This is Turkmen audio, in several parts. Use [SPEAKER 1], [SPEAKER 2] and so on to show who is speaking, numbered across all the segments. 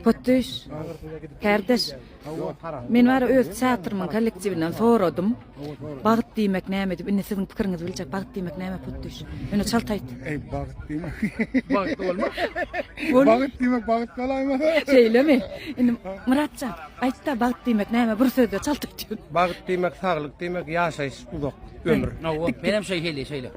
[SPEAKER 1] Potdüş, kärdeş, men bara öz teatrymyň kollektiwinden soradym. Bagt diýmek näme diýip, indi siziň pikiriňizi biljek. Bagt diýmek näme Potdüş? Ýöne çalt aýt. Eý, bagt
[SPEAKER 2] diýmek.
[SPEAKER 3] Bagt bolma. Bagt
[SPEAKER 2] diýmek bagt bolaýma. Şeýlemi?
[SPEAKER 1] Indi Myratjan, aýt-da, bagt diýmek näme? Bir sözde çalt aýt. Bagt diýmek saglyk
[SPEAKER 4] diýmek, ýaşaýyş uzak, ömür. Menem şeýle,
[SPEAKER 3] şeýle.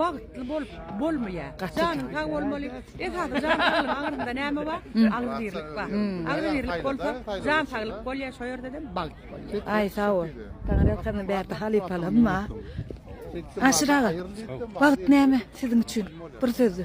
[SPEAKER 5] Bagtly bolup bolmaýa. Janyň sag bolmaly. Esasy jan saglyk aňyrynda näme bar? Agzybirlik bar. Agzybirlik bolsa jan saglyk bolýa şo ýerdedem bagt bolýa. Aý sagbol.
[SPEAKER 1] Saňa ýazsam bärde halypalanma. Aşyr aga, bagt näme siziň üçin? Bir sözde.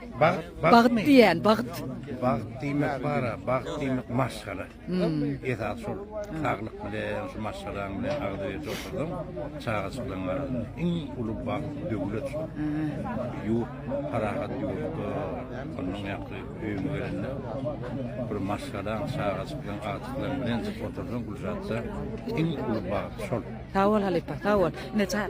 [SPEAKER 1] Bagt diýýän, bagt. Bagt diýmek
[SPEAKER 4] bar-a, bagt diýmek maşgala. Esasy şol saglyk bilen, şu maşgalaň bilen agzybirje otursaň, çagajyklaryň arasynda iň uly bagt, döwlet şol. Ýurt, parahat ýurtda, onnoň ýaňky öýüňe gelende bir maşgalaň, çagajyklaryň, agtyklaryň bilen otursaň, Gülzatda iň uly bagt şol. Sag bol halypa, sag
[SPEAKER 1] bol. Ine, çaý.